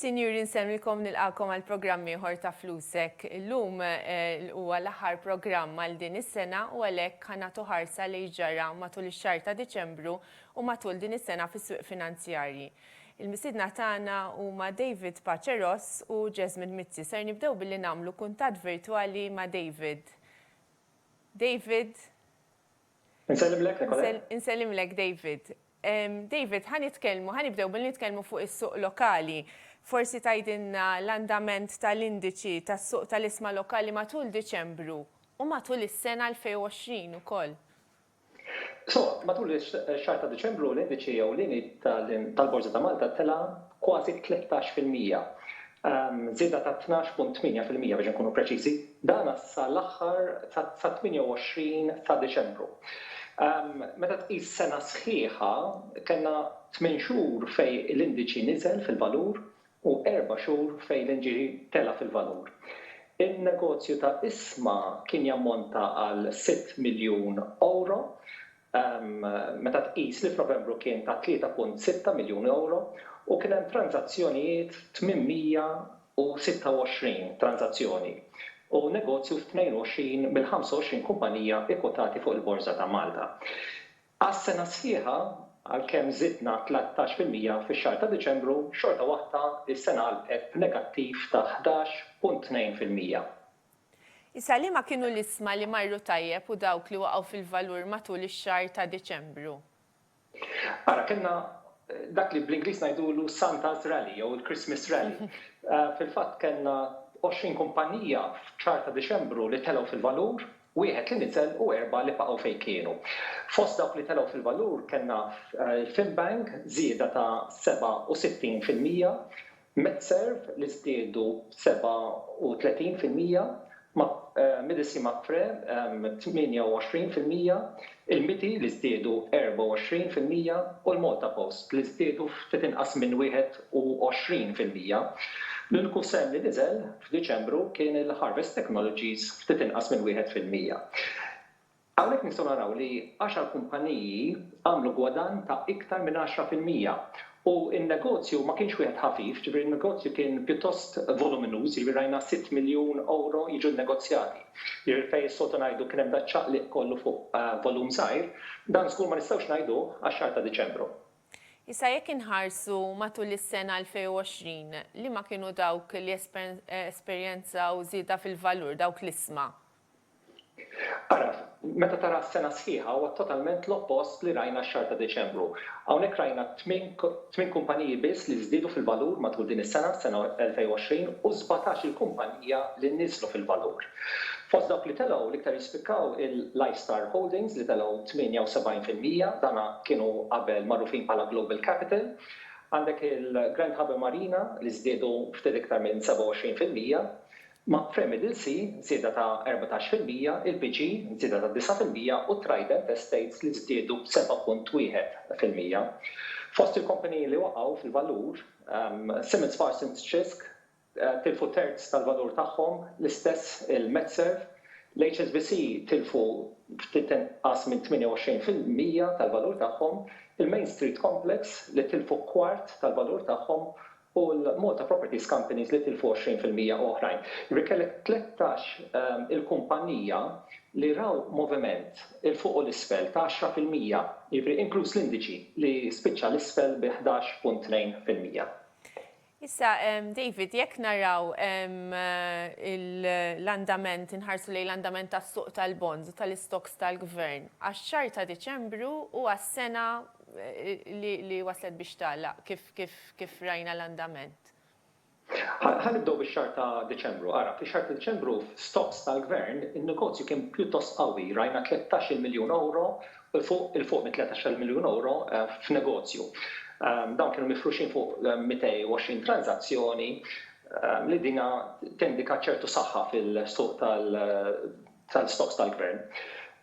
Sinjuri nsemmilkom nilqakom għal programm ieħor ta' Flusek. Illum eh, huwa l-aħħar programm għal din is-sena u għalhekk ħanatu ħarsa li ġara matul ix-xahar ta' Diċembru u matul din is-sena fis-swieq finanzjarji. Il-mistiedna tagħna huma David Pace Ross u Jasmine Mizzi. Ser nibdew billi nagħmlu kuntatt virtwali ma' David. David? Insellimlek, Nicolè. Insellimlek, David. David, ħa nitkellmu, ħa nibdew billi nitkellmu fuq is-suq lokali. Forsi tgħidilna l-andament tal-indiċi tas-suq tal-isma lokali matul Diċembru u matul is-sena 2020 ukoll. So, matul ix-xahar ta' Diċembru l-indiċi ewlieni tal-Borża ta' Malta tela' kważi b'13 fil-mija, żieda ta' 12.8 fil-mija biex inkunu preċiżi, dan sa l-aħħar sat-28 ta' Diċembru. Meta tqis sena sħiħa, kellna tmien xhur fejn l-indiċi niżel fil-valur u erba' xhur fejn l-inġiri tela' fil-valur. In-negozju ta' Isma kien jammonta għal sitt miljun ewro, meta tqis li f'Novembru kien ta' tlieta punt sitta miljun ewro u kien hemm tranżazzjonijiet 826 tranżazzjoni u negozju f'tnejn u għoxrin mill-ħamsa u għoxrin kumpanija kkwotati fuq il-Borża ta' Malta. Għas-sena sħiħa, għalkemm żidna tlettax fil-mija fix-xahar ta' Diċembru, xorta waħda s-sena għalqet b'negattiv ta' ħdax punt tnejn fil-mija. Issa liema kienu l-isma li marru tajjeb u dawk li waqgħu fil-valur matul ix-xahar ta' Diċembru? Ara, kellna dak li bl-Ingliż ngħidulu Santa's Rally jew il-Christmas Rally. Fil-fatt kellna għoxrin kumpannija f'xahar ta' Diċembru li telgħu fil-valur. wieħed li niżel u erbgħa li baqgħu fejn kienu. Fost dawk li telgħu fil-valur kellna Finbank żieda ta' 67 fil-mija, Medserv li żdiedu b' 37 fil-mija, Medici Mapfre b' 28 fil-mija, il-Miti li żdiedu 24 fil-mija u l-Malta Post li żdiedu ftit inqas minn 21 fil-mija. L-uniku sehem li niżel F'Diċembru kien il-Harvest Technologies ftit inqas minn wieħed fil-mija. Hawnhekk nistgħu naraw li għaxar kumpaniji għamlu gwadann ta' iktar minn għaxra fil-mija u n-negozju ma kienx wieħed ħafif, ġifieri n-negozju kien pjuttost voluminuż, jiġifieri rajna sitt miljun ewro jiġu nnegozjati. Jiġifieri fejn is-soltu ngħidu kien hemm daċ-ċaqliq kollu fuq volum żgħir, dan żgur ma nistgħux ngħiduh għax-xahar ta' Diċembru. Issa jekk inħarsu matul is-sena 2020, liema kienu dawk li esperjenzaw żieda fil-valur, dawk l-isma? Ara, meta tara s-sena sħiħa huwa totalment l-oppost li rajna x-xahar ta' Diċembru. Hawnhekk rajna tmien kumpaniji biss li żdiedu fil-valur matul din is-sena, s-sena 2020, u sbatax-il kumpanija li niżlu fil-valur. Fost dawk li telgħu, l-iktar jispikkaw il-Lifestar Holdings li telgħu 78 fil-mija, dan kienu qabel magħrufin bħala Global Capital. Għandek il-Grand Harbour Marina li żdiedu ftit iktar minn 27 fil-mija. Ma' Frame Middle Sea, żieda ta' 14 fil-mija, il-PG, żieda ta' 9 fil-mija u Trident Estates li żdiedu b'7.1 fil-mija. Fost il-kumpaniji li waqgħu fil-valur, Simmons Parsons Cisc tilfu terz tal-valur tagħhom, l-istess il-MedServ, l-HSBC tilfu ftit inqas minn 28 fil-mija tal-valur tagħhom, il-Main Street Complex li tilfu kwart tal-valur tagħhom u l-Malta Properties Companies li tilfu 20 fil-mija u oħrajn. Jiġifieri kellek 13 il-kumpanija li raw moviment 'il fuq u 'l isfel ta' 10 fil-mija, jiġifieri inkluż l-indiċi li spiċċa 'l isfel bi 11.2 fil-mija. Issa, David, jekk naraw l-andament, inħarsu lejn l-andament tas-suq tal-bonds u tal-istocks tal-Gvern, għax-xahar ta' Diċembru u għas-sena li waslet biex tagħlaq, kif rajna l-andament? Ħa nibdew bix-xahar ta' Diċembru. Ara, fix-xahar ta' Diċembru f'stocks tal-Gvern, in-negozju kien pjuttost qawwi, rajna tlettax-il miljun ewro 'l fuq 'il fuq minn tletax-il miljun ewro f'negozju. Dawn kienu mifruxin fuq 220 tranżazzjoni li dina tindika ċertu saħħa fil-suq tal-stocks tal-Gvern.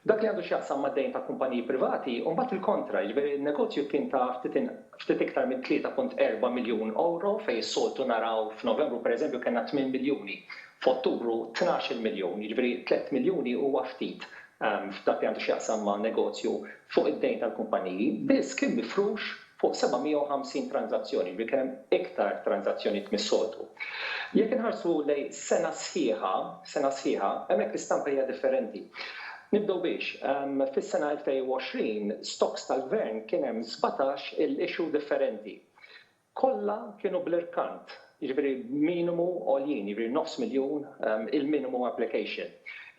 F'dak li għandu x'jaqsam mad-dejn ta' kumpaniji privati hu mbagħad il-kontra, jiġifieri n-negozju kien ta' ftit iktar minn 3.4 miljun ewro fejn is-soltu naraw f'Novembru pereżempju kellna tmien miljuni, f'Ottubru tnax-il miljun, jiġifieri tlett miljuni huwa ftit f'dak li għandu x'jaqsam ma' negozju fuq id-dejn tal-kumpaniji, biss kien mifrux fuq 750 tranżazzjoni, jiġifieri kien hemm iktar tranżazzjonijiet mis-soltu. Jekk inħarsu lejn sena sħiħa, sena sħiħa, hemmhekk l-istampa hija differenti. Nibdew b'hix, fis-sena 2020, stokks tal-Gvern kien hemm sbatax-il issue differenti. Kollha kienu bl-irkant, jiġifieri minimu għoljin, jiġifieri nofs miljun il-minimum application.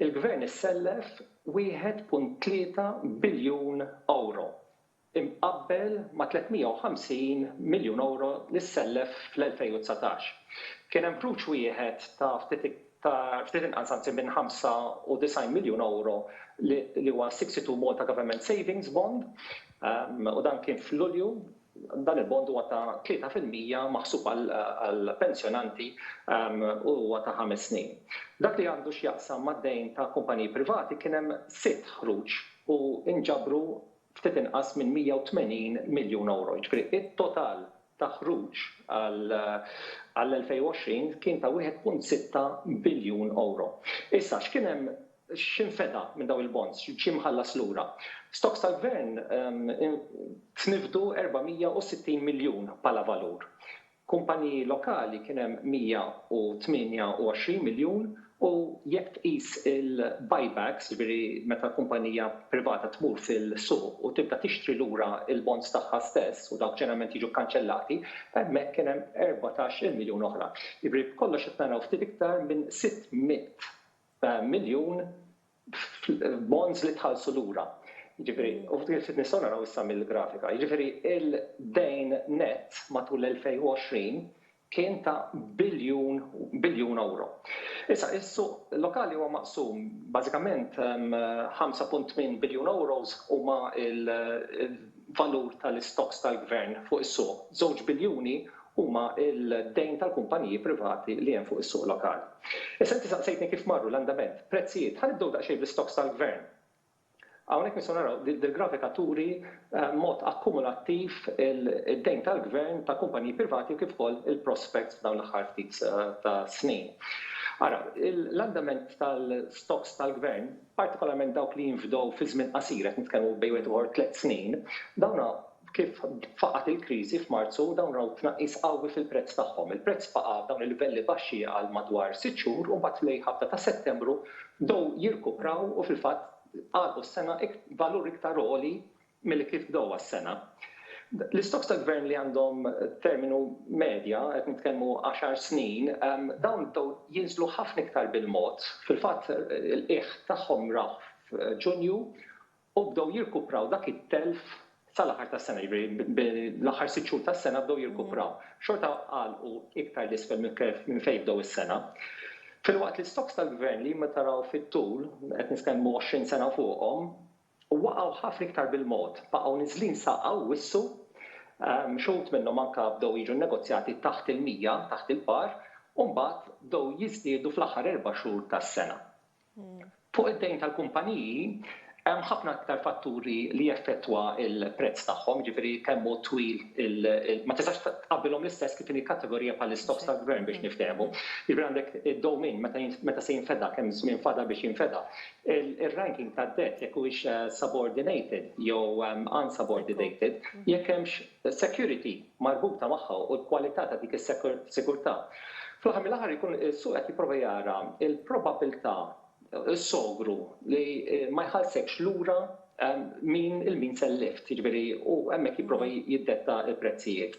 Il-Gvern issellef 1.3 biljun ewro, imqabbel ma' 350 miljun ewro li ssellef fl-2019. Kien hemm ħruġ wieħed ta' ftit inqas anzi minn 95 miljun ewro li huwa 62 Malta Government Savings Bond u dan kien f'Lulju Dan il-bond huwa ta' tlieta fil-mija maħsub għall-pensjonanti u huwa ta' ħames snin. F'dak li għandu x'jaqsam mad-dejn ta' kumpaniji privati kien hemm sitt ħruġ u nġabru ftit inqas minn 180 miljun ewro. Jiġifieri t-total ta' ħruġ għall-2020 kien ta' 1.6 biljun ewro. Issa x'kien hemm X'infeda minn dawn il-bonds? Xi mħallas lura? Stocks tal-Gvern tniffdu 460 miljun bħala valur. Kumpaniji lokali kien hemm 128 miljun u jekk tqis il-buybacks, jiġifieri meta kumpanija privata tmur fil-suq u tibda tixtri lura l-bonds tagħha stess u dawk ġeneralment jiġu kkanċellati, hemmhekk kien hemm erbatax-il miljun oħra. Jiġifieri b'kollox qed naraw ftit iktar minn 600 miljun f'bonds li tħallsu lura. Jiġifieri, u kif nistgħu naraw issa mill-grafika, jiġifieri d-dejn nett matul l-2020 kien ta' biljun, biljun ewro. Issa, is-suq lokali huwa maqsum, bażikament 5.8 biljun ewros huma l-valur tal-istocks tal-Gvern fuq is-suq, żewġ biljuni huma d-dejn tal-kumpaniji privati li hemm fuq is-suq lokali. Issa inti saqsejtni kif marru l-andament, prezzijiet. Ħa nibdew daqsxejn bl-istokks tal-gvern. Hawnhekk nistgħu naraw, dil-grafika turi b'mod akkumulattiv id-dejn tal-gvern ta' kumpaniji privati u kif ukoll il-prospects f'dawn l-aħħar ftit ta' snin. Ara, l-andament tal-stokks tal-gvern, partikolarment dawk li jinfdew fi żmien qasir, qed nitkellmu bejn wieħed u ieħor tliet snin, dawn Kif faqgħet il-kriżi f'Marzu, dawn raw tnaqqis qawwi fil-prezz tagħhom. Il-prezz baqa' f'dawn il-livelli baxxi għal madwar sitt xhur u mbagħad fl-ħabta ta' Settembru bdew jirkupraw u fil-fatt għalqu s-sena b'valur iktar għoli milli kif bdewha s-sena. L-istokks tal-Gvern li għandhom terminu medja, qed nitkellmu għaxar snin, dawn bdew jinżlu ħafna iktar bil-mod. Fil-fatt il-qiegħ tagħhom rawh f'Ġunju u bdew jirkupraw dak it-telf sal-aħħar tas-sena, jiġifieri bil-aħħar sitt xhur tas-sena bdew jirkupraw. Xorta għalqu iktar 'l isfel minn fejn bdew is-sena. Filwaqt li stocks tal-Gvern li meta raw fit-tul, qed niskellmu 20 sena fuqhom, waqgħu ħafna iktar bil-mod, baqgħu niżlin sa hawn wissu, xi wħud minnhom anke bdew jiġu nnegozjati taħt il-100, taħt il-par, u mbagħad bdew jiżdiedu fl-aħħar erba' xhur tas-sena. Fuq id-dejn tal-kumpaniji, hemm ħafna aktar fatturi li jeffettwa l-prezz tagħhom, jiġifieri kemm hu twil il, ma tistax tqabbilhom l-istess kif inhi kategorija bħall-istokks tal-gvern biex niftehmu. Jiġifieri għandek id-dewmien, meta, meta se jinfeda, kemm żmien fadal biex jinfeda. Ir-ranking tad-dett, jekk huwiex subordinated jew unsubordinated, jekk hemmx is-security marbuta magħha u l-kwalità ta' dik is-sigurtà. Fl-aħħar mill-aħħar ikun is-suq qed jipprova jara l-probabbiltà, is-sogru li ma jħallsekx lura min il-means and lift, jiġifieri u hemmhekk jipprova jiddetta l-prezzijiet.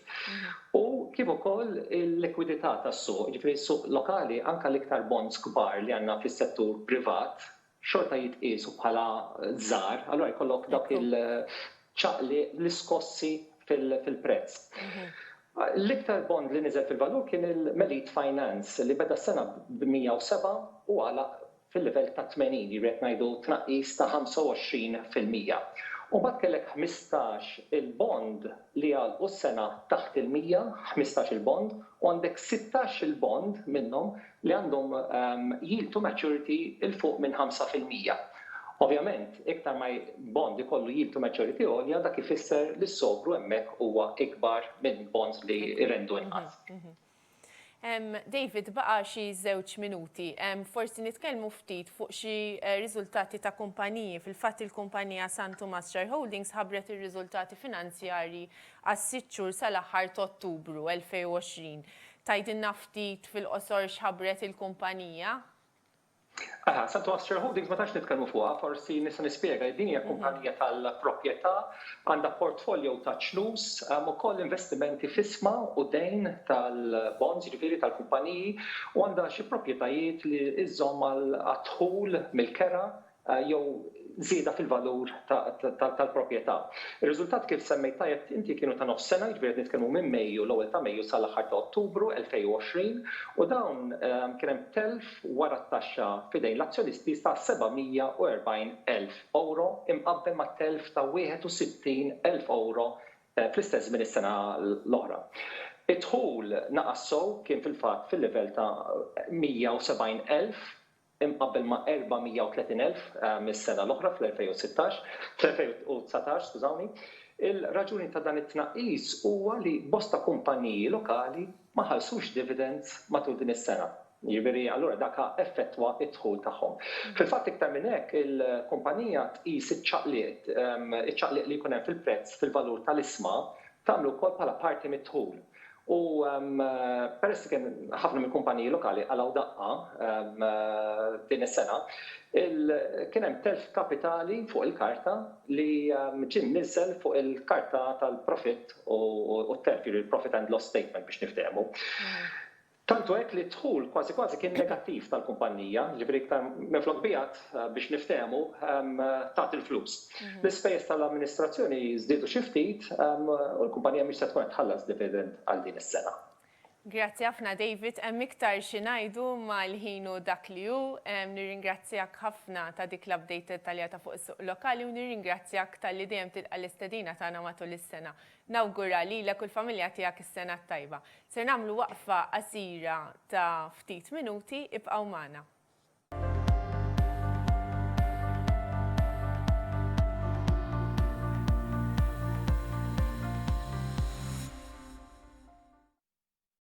U kif ukoll il-likwidità tas-suq, jiġifieri s-suq lokali anke l-iktar bonds kbar li għandna fis-settur privat, xorta jitqiesu bħala żgħar, allura jkollok dawk il-ċaqliq, l-iskossi fil-prezz. L-iktar bond li niżel fil-valur kien il-Melite Finance li beda s-sena b' 107 u għalaq fil-livell ta' 80, jiġifieri qed ngħidu tnaqqis ta' 25 fil-mija. U mbagħad kellek ħmistax il-bond li għalqu s-sena taħt il-100, ħmistax il-bond, u għandek sittax il-bond minnhom li għandhom yield to maturity 'l fuq minn 5 fil-mija. Ovvjament, iktar ma bond ikollu yield to maturity għolja, dak ifisser li s-sogru hemmhekk huwa ikbar minn bonds li jrendu inqas. David, baqa' xi żewġ minuti. Forsi nitkellmu ftit fuq xi riżultati ta' kumpaniji. Fil-fatt il-kumpanija San Tumas Share Holdings ħabbret ir-riżultati finanzjarji għas-sitt xhur sal-aħħar t'Ottubru 2020. Tgħidilna ftit fil-qosor x'ħabbret il-kumpanija? Aha, Santu Astor Holdings ma tantx nitkellmu fuqha, forsi nista' nispjega. Din hija kumpanija tal-proprjetà, għandha portfolio ta' ċnus, hemm ukoll investimenti f'ismha u dejn tal-bonds, jiġifieri tal-kumpaniji, u għandha xi proprjetajiet li żżomm għad-dħul mill-kera jew żieda fil-valur tal-proprjetà. Ir-riżultati kif semmejt tajjeb inti kienu ta' nofs sena, jiġifieri qed nitkellmu minn Mejju, l-ewwel ta' Mejju sal-aħħar ta' Ottubru 2020, u dawn kien hemm telf wara t-taxxa f'idejn l-azzjonisti ta' €740,000 imqabbel ma' telf ta' €61,000 fl-istess żmien is-sena l-oħra. Id-dħul naqas sew kien fil-fatt fil-livell ta' €170,000. imqabbel ma' 430,000 mis-sena l-oħra fl-2016, fl-2019, skużawni. Il-raġuni ta' dan it-tnaqqis huwa li bosta kumpaniji lokali ma ħallsux dividends matul din is-sena. Jiġifieri, allura dak ha effettwa d-dħul tagħhom. Fil-fatt iktar minn hekk, il-kumpanija tqis iċ-ċaqliq, iċ-ċaqliq li jkun hemm fil-prezz fil-valur tal-isma tagħmlu wkoll bħala parti mid-dħul. U peress li kien ħafna mill-kumpaniji lokali qalgħu daqqa din is-sena, kien hemm telf kapitali fuq il-karta li ġie mniżżel fuq il-karta tal-profitt u t-telf, jiġifieri l-profit and loss statement biex niftehmu. Tant hu hekk li d-dħul kważi kważi kien negattiv tal-kumpannija, jiġifieri iktar minflok biegħet, biex niftehmu, tat il-flus. L-ispejjeż tal-amministrazzjoni żdiedu xi ftit u l-kumpannija mhix se tkun qed tħallas dividend għal din is-sena. Grazzi ħafna David, hemm iktar xi ngħidu imma l-ħin hu dak li hu. Nirringrazzjak ħafna ta' dik l-update dettaljata fuq is-suq lokali u nirringrazzjak talli dejjem tilqa' l-istedina tagħna matul is-sena. Nawgura lilek u l-familja tiegħek is-Sena t-Tajba. Ser nagħmlu waqfa qasira ta' ftit minuti, ibqgħu magħna.